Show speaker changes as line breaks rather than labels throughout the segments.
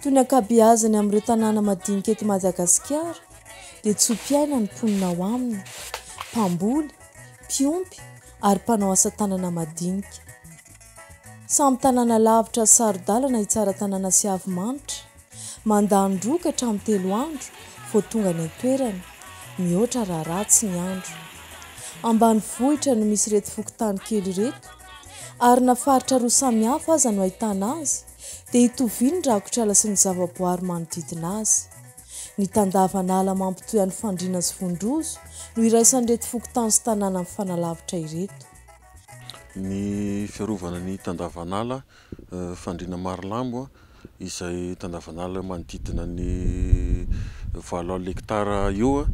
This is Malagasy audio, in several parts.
Toy ny ankabeazany amin'ireo tanàna madinika eto Madagasikara dia tso-piaina ny mponina ao aminy, mpamboly, mpiompy ary mpanao asa tanana madinika. Samy tanàna lavitra sy saro-dalana i Tsaratanàna sy Havimanitra, mandany roa ka hatramin'ny telo andro vao tonga any an-toerana, mihoatra raha ratsy ny andro. Ambanivohitra no misy ireto fokontany kely ireto ary na faritra roa samihafa aza no ahitana azy dia itovia ny rakotr'ala sy ny zavaboary manodidina azy. Ny tandavan'ala mampitohy an'i Fandriana sy Vondrozo no iraisan'ireto fokontany sy tanàna mifanalavitra ireto.
Ny fiarovana ny tandavan'ala Fandriana Marilambo izay tandavan'ala manodidina ny valo alina hektara eo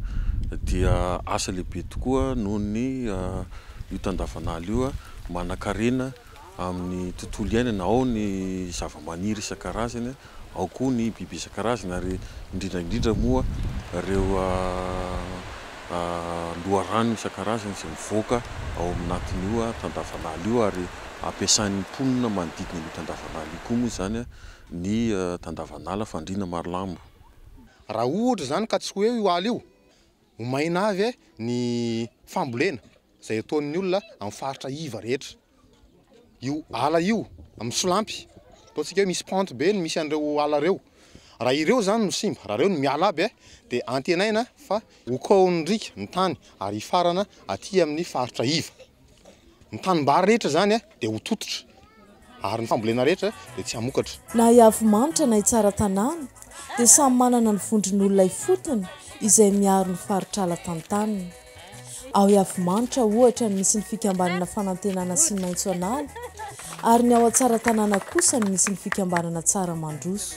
dia asa lehibe tokoa noho ny io tandavan'ala io manan-karena amin'ny tontolo iainana, ao ny zavamaniry isan-karazany, ao koa ny biby isan-karazany ary indrindra indrindra moa ireo loharano isan-karazany izay mivoaka ao aminatin'io tandavan'ala io ary ampiasain'ny mponina manodidina an'io tandavan'ala io koa moa izany ny tandavan'ala fandriana marlambo. Raha
ohatra izany ka tsy ho eo io ala io, ho maina avy ny fambolena. izay ataon'ny olona amin'ny faritra iva rehetra. Io ala io amin'ny solampy, ataontsika hoe misy pente be ny misy an'ireo ala ireo. Raha ireo zany no simba, raha ireo no miala aby eh, dia antenaina fa ho kaohin'ny riaka ny tany ary hifarana aty amin'ny faritra iva. Ny tanimbary rehetra zany eh, dia ho tototra, ary ny fambolena rehetra dia tsy hamokatra. Na i Avimanitra
na i Tsaratanàna dia samy manana ny vondron'olona ifotony izay miaro ny faritr'ala tantaniny. Ao Iavimanitra, ohatra, no misy ny fikambanana Fanantenana sy Maitso an'ala, ary ny ao Tsaratanàna kosa no misy ny fikambanana Tsara mandroso.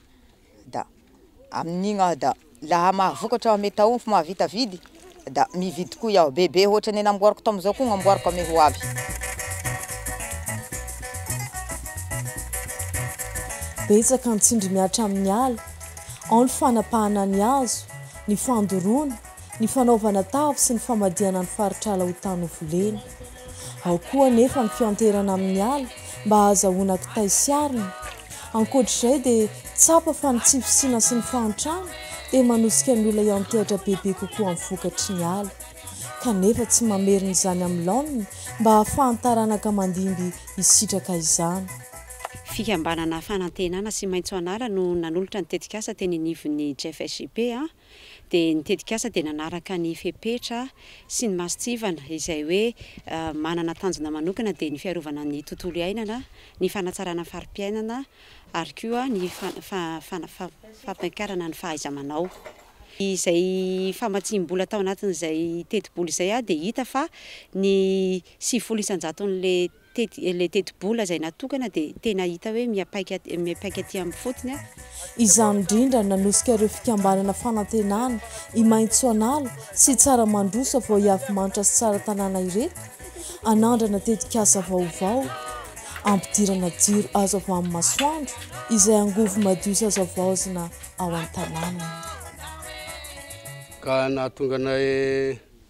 da amin'igny aho da laha mahavokatra ame taomfo mahavita vidy da mividy koa iaho bebe hoatra ny namboariko tamzao koa gnamboariko ame ho avy.
Betsaka ny tsindry mihatra amin'ny ala, ao ny fanapahana ny hazo, ny fandoroana, ny fanaovana tavy sy ny famadihana ny faritr'ala ho tany ho volena. Ao koa anefa ny fianteherana amin'ny ala mba hahazahoana kitay sy arina. Ankoatra izay dia tsapa fa ny tsy fisiana sy ny fahantrana dia manosika ny olona hiantehatra bebe kokoa amin'ny vokatry ny ala. Kanefa tsy mamerina izany amin'ny laoniny mba hahafahan'ny taranaka mandimby hisitraka izany. Fikambanana
fanantenana sy maitso an'ala no nanolotra ny tetikasa teny anivon'ny JFSJP. dia ny tetikasa dia nanaraka ny fepetra sy ny masontsivana izay hoe manana tanjona manokana dia ny fiarovana ny tontolo iainana, ny fanatsarana fari-piainana ary koa ny fampiakarana ny fahaiza-manao. Izay famatsiam-bola tao anatin'izay tetibola izay dia hita fa ny sivifolo isan-jaton'ilay. tety ilay tetibola izay natokana dia tena hita hoe miapaika miapaika aty amin'ny fotony a. Izany
indrindra no nanosika ireo fikambanana Fanantenana, i Maitsoanala sy i Tsaramandroso avy ao Iavimanitrasy Tsaratanàna ireto hanandrana tetikasa vaovao hampidirana jiro azo avy amin'ny masoandro izay angovo madio sy azo havaozina ao an-tanànany.
Ka nahatonga anay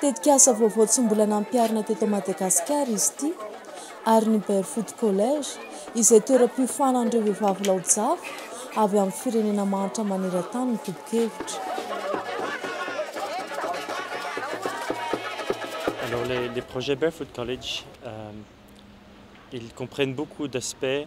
Tetikasa vaovao tsy mbola nampiharina teto Madagasikara izy ity ary ny Barefoot College, izay toeram-piofanan'ireo vehivavy laojafy avy amin'ny firenena mahantra maneran-tany no tompon-kevitra.
Alors les les projets Barefoot College ils comprennent beaucoup d'aspects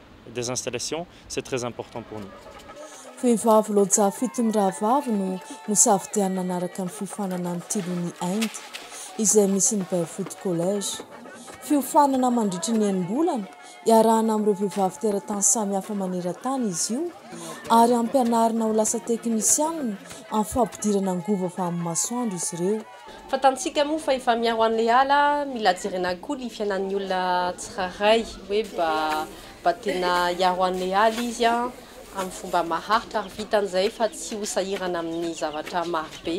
des installations c'est très important pour nous. Vehivavy
Loja fito mirahavavy no nosafidianina hanaraka ny fiofanana ny Tilony Inde, izay misy ny Barefoot College. Fiofanana mandritry ny enim-bolana, iarahana amin'ireo vehivavy teratany samihafa maneran-tany izy io, ary ampianarina ho lasa teknisianina amin'ny fampidirana angovo avy amin'ny masoandro izy ireo. Fantantsika moa
fa efa miaro an'ilay ala, mila jerena koa ny fiainan'ny olona tsirairay hoe mba mba tena hiaro an'ilay ala izy amin'ny fomba maharitra ary vitan'izay fa tsy ho sahirana amin'ny zavatra marobe.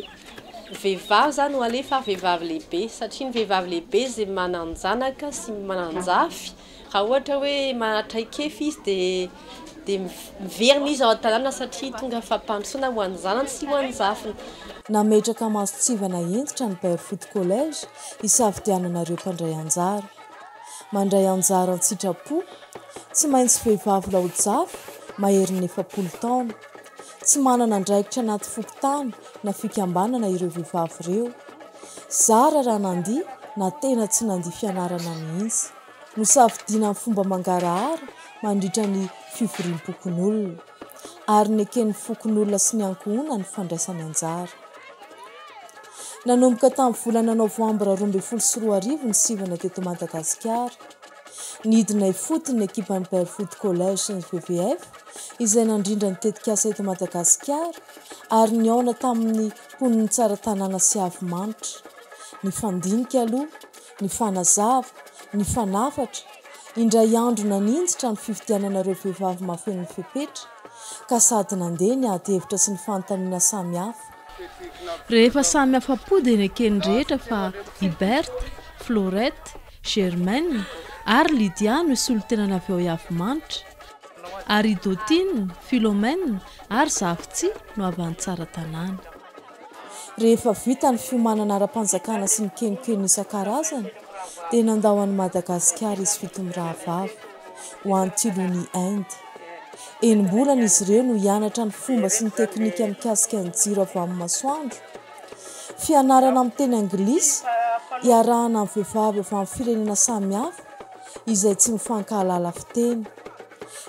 Ny vehivavy izany no alefa ary vehivavy lehibe satria ny vehivavy lehibe izay manan-janaka sy manan-jafy. Raha ohatra hoe mahatraikefy izy dia dia miverina izy ao an-tanàna satria tonga fampandrosoana ho an'ny zanany sy ho an'ny zafiny. Nametraka
masontsivana hentitra ny Barefoot College hisafidianana ireo mpandray anjara. Mandray anjara an-tsitrapo, tsy maintsy vehivavy laojafy maherin'ny efapolo taona. Tsy manana andraikitra anaty fokontany na fikambanana ireo vehivavy ireo. Zara raha nandia na tena tsy nandia fianarana mihitsy. Nosafidiana amin'ny fomba mangarahara mandritra ny fivoriam-pokonolona, ary neken'ny fokonolona sy ny ankohonany ny fandraisany anjara. Nanomboka tamin'ny volana novambra roa ambin'ny folo sy roa arivo ny sivana teto Madagasikara. Nidina ifotony ny ekipan'ny Barefoot College sy ny VVF, izay nandrindra ny tetikasa eto Madagasikara, ary nihaona tamin'ny Mponin'ny tsara tanàna sy avo manitra. Nifandinika aloha, nifanazava, nifanafatra, indray andro naninjitra ny fifidianana ireo vehivavy mahafeno ny fepetra, ka sady nandeha ny ady hevitra sy ny fanontaniana samy hafa. Rehefa
samy afa-po dia neken'ny rehetra fa i Berthe, Florette, Germaine ary Lydia no hisolo-tenany avy ao Iavomanitra. Ary Dotine, Philomène ary Zavitsy no avy any Tsaratanàna.
Rehefa vita ny fiomanana ara-panjakana sy ny kenokeno isan-karazany dia nandao an'i Madagasikara izy fito mirahavavy, ho any Tilony, Inde. Enim-bolana izy ireo no hianatra ny fomba sy ny teknika mikasika ny jiro avy amin'ny masoandro. Fianarana amin'ny teny anglisy, iarahana amin'ny vehivavy avy amin'ny firenena samihafa. izay tsy mifankahalala fiteny.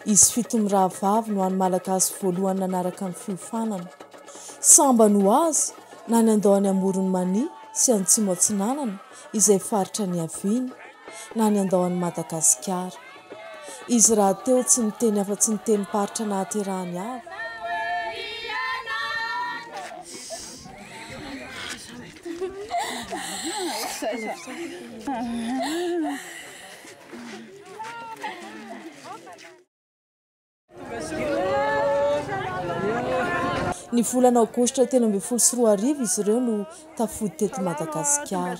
Izy fito mirahavavy no hany Malagasy voalohany nanaraka ny fiofanana. Sambany ho azy na ny andao any Amoron'i Mania sy Antsimo Atsinanana, izay faritra niaviany, na ny andao any Madagasikara. Izy rahateo tsy niteny afa-tsy ny tenim-paritra nahaterahany avy. Ny volana aogositra telo ambin'ny folo sy roa arivo izy ireo no tafody teto Madagasikara.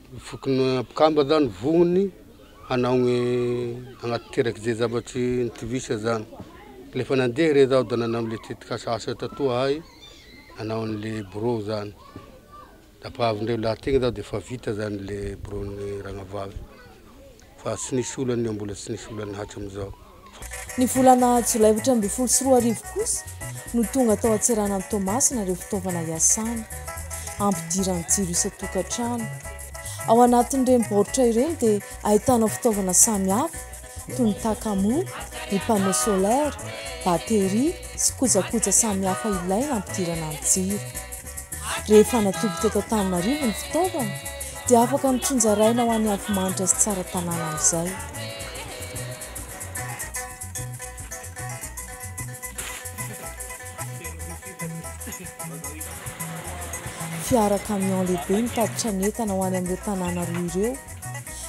Fokony mpikamba zany vognony hanao ny hanatanteraka ze zavatry nitovisa zany. Rehefa nandeha re zaho da nanao an'le tetikasa asa tatoa ahay, nanao an'le birao zany. Tapahavindreo lahy tegna zaho de fa vita zany le biraon'ny Ragnavavy. Fa tsy nisy olana io, mbola tsy nisy olana hatram'izao. Ny
volana jolay efatra ambin'ny folo sy roa arivo kosa no tonga tao an-tseranan'i Toamasina ireo fitaovana iasana hampidirany jiro isan-tokantrano. Ao anatin'ireny baoritra ireny dia ahitana fitaovana samihafa toy ny takamoa, ny panneau solaire, batterie sy kojakoja samihafa ilaina hampidirana ny jiro. Rehefa natoby teto Antananarivo ny fitaovana dia afaka notsinjaraina ho an'i Avimanitra sy Tsaratanàna amin'izay. Fiara camion lehibe mitatitra ny entana ho any amin'ireo tanàna roa ireo,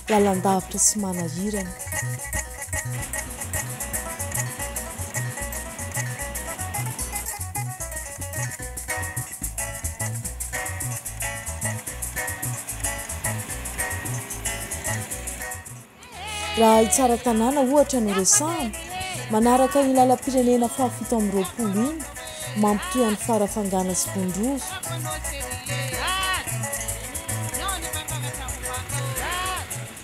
Lalandavitra sy Manahirana. Raha i Tsaratanàna ohatra no resahana, manaraka iny lalam-pirenena fahafito amby roapolo iny, mampitohy an'i Farafangana sy Vondrova.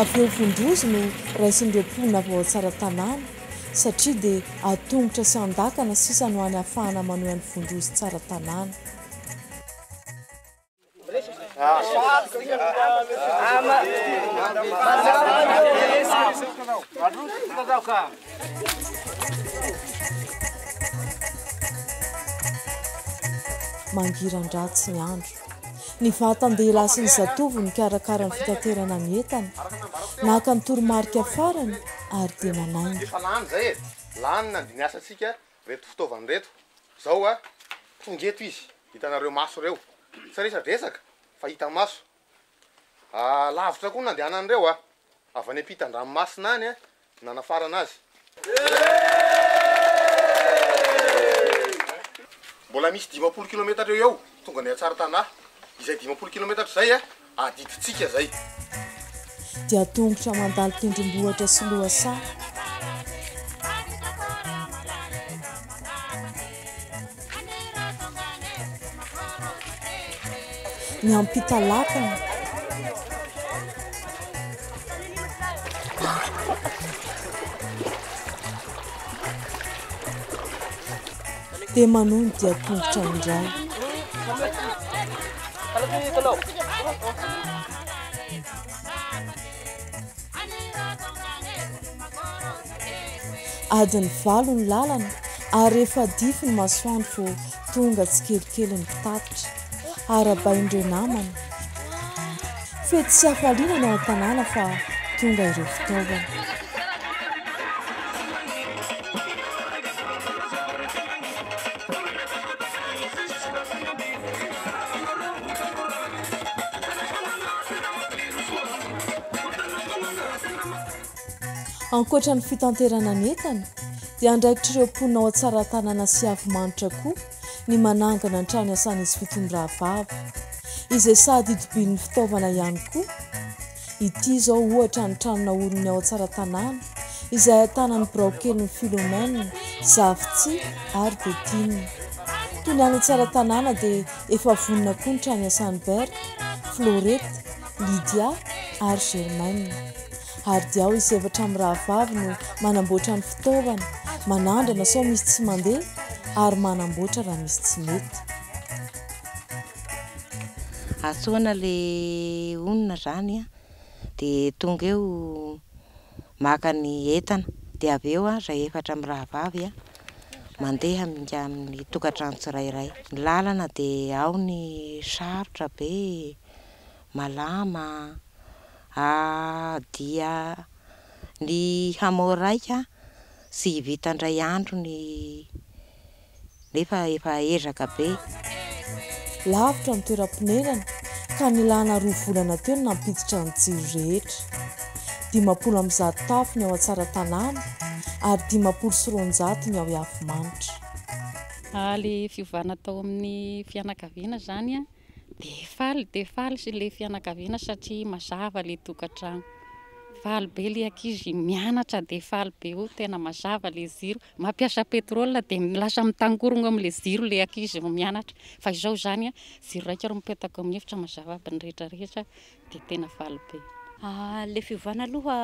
Avy eo vondrozy no raisin'ireo mponina vao ao Tsaratanàna satria dia an-tongotra sy an-dakana sisa no any ahafahana manohy an'i Vondrozy Tsaratanàna. Mangiran-dratsy ny andro. Ny vatan-dehilahy sy ny zatovo nikarakara ny fitaterana ny entana. Naka ny toromarika farany ary dia nanainga. Efa lany izay e!
Lany nandinia asantsika ireto fitaovana ireto. Izao tonga eto izy, hitanareo maso ireo. Tsy resadresaka fa hita maso. Ah, lavitra koa no nandehanan'ireo ah. Avy any ampitan-dranomasina any ah no nanafarana azy. Mbola misy dimampolo kilometatra eo ho eo tonga ny an-tsarintanahy. Izay dimampolo kilometatra izay ah, adidintsika izay.
Dia tongotra mandalo tendrombohitra sy lohasaha. Ny ampita lakana. Dia manohy ny dian-tongotra indray. Adiny valo ny lalana ary efa dify ny masoandro vao tonga tsikelikely ny mpitatitra. Arahabain'ireo namany. Fety sy hafaliana ny ao an-tanàna fa tonga ireo fitaovana. Ankoatra ny fitanterana ny entana, dia andraikitr'ireo mponina ao Tsaratanana sy Iavolomanitra koa ny manangana ny trano iasan'izy fitony rahavavy, izay sady itobian'ny fitaovana ihany koa. Ity izao ohatra ny trano naorin'ny ao Tsaratanana, izay ahitana ny biraokelin'i Philomène, Zafitsihy ary Bettina. Toy ny any Tsaratanana dia efa vonona koa ny trano iasan'i Berthe, Florette, Lydia ary Germaine. Ary dia ao izy efatra mirahavavy no manamboatra ny fitaovana, manandrana sao misy tsy mandeha ary manamboatra raha misy tsy mety.
Antsoina ilay olona izany an, dia tonga eo maka ny entana, dia avy eo izay efatra mirahavavy an, mandeha aminga amin'ny tokantrano tsirairay. Ny lalana dia ao ny sarotra be e. malama a! dia ny hamao raika tsy vita indray andro ny nefa efa ezaka be.
Lavitra ny toeram-ponenana ka nilana roa volana teo ny nampiditra ny jiro rehetra. Dimampolo amby zato tafo ny ao Antsaratanàna ary dimampolo sy roanjato ny ao Iavimanitra.
Ilay fiovana tao amin'ny fianakaviana izany dia faly dia faly sy le fianakaviana satria mazava le tokantrano faly be le ankizy mianatra dia faly be oh tena mazava le ziro mampiasa petrole dia lasa mitangorogno amle ziro le ankizy mianatra fa izao zany a ziro raika ro mipetaka amin'ny efitra mazava aby ny rehetra rehetra dia tena faly be. Ilay
fiovana aloha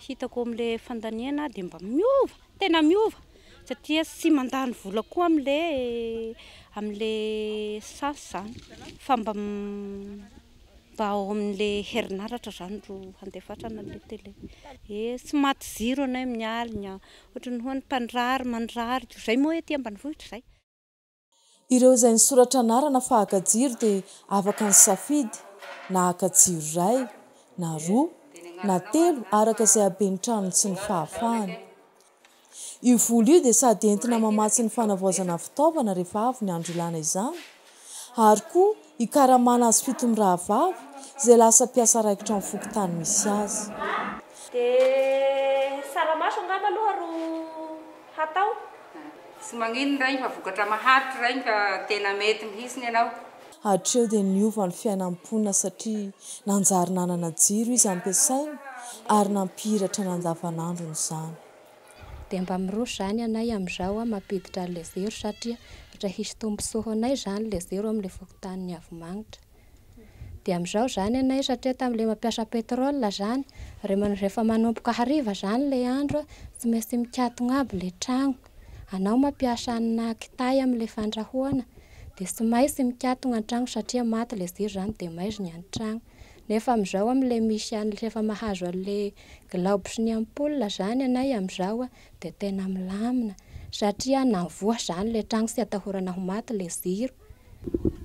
hitako amin'ilay fandaniana dia mba miova, tena miova. Satria tsy mandany vola koa amin'ilay amin'ilay sas izany fa mba mba ao amin'ilay herinaratra izany ro handefatrana an'ilay télé. Ee, tsy maty jiro anay amin'ny alina, ohatran'ny hoe ny mpandrary mandrary, izay moa ety ambanivohitra izay. Ireo
izay nisoratra anarana fa haka jiro dia afaka nisafidy na haka jiro iray, na roa, na telo araka izay haben'ny tranony sy ny fahafahany. Io vola io dia sady entina mamatsy ny fanavaozana fitaovana rehefa avy ny andro ilana izany ary koa hikaramana azy fito mirahavavy izay lasa mpiasa raikitra amin'ny fokontany misy azy. Dia
saramaso angamba aloha ro. hatao?
Tsy magnino ny rainy fa vokatra maharitry rainy ka tena mety mihintsy ny anao. Hatreo dia
niova ny fiainan'i Pona satria nanjary nanana jiro izy ampiasainy ary nampihiratra ny andavanandrony izany. Dia mba
miroso izany ianay amin'izao an, mampiditra an'ilay zero satria ohatra hisy tombotsoa ho anay izany ilay zero amin'ilay fokontanin'i Avimagnitra. Dia amizao zany anay satria tamle mampiasa pétrole zany rehefa manomboka hariva zany le andro tsy maintsy mikatona aby le tragno anao mampiasa amina kitay amle fandrahoana dia tsy maintsy mikatona antragno satria maty le jiro zany dia maizy ny antragno nefa amizao amle misy anle efa mahazo anle glaoby sy ny ampoule zany anay amizao dia tena milamina satria na mivoha zany le tragno tsy atahorana ho maty le jiro.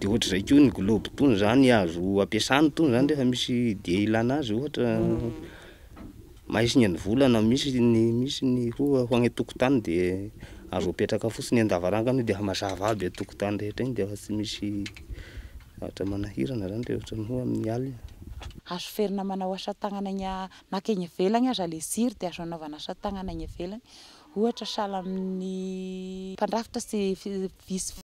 de ohatr'izay
koa ny globe tony zany azo ampiasana tony zany rehefa misy dia ilana azy ohatra mahay singa ny vola na misy ny misy ny koa ho any an-tokotany de azo apetraka fotsiny an-davarangana io de efa mazava aby an-tokotany rehetra eny de efa tsy misy zavatra manahirana zany de ohatran'ny hoe amin'ny alina. Azo ferina
manao asa tagnana egny a, na ka egny ivelagny aza le jiro de azo anaovana asa tagnana egny ivelagny, ohatra sahala amin'ny mpandrafitra sy vy sy.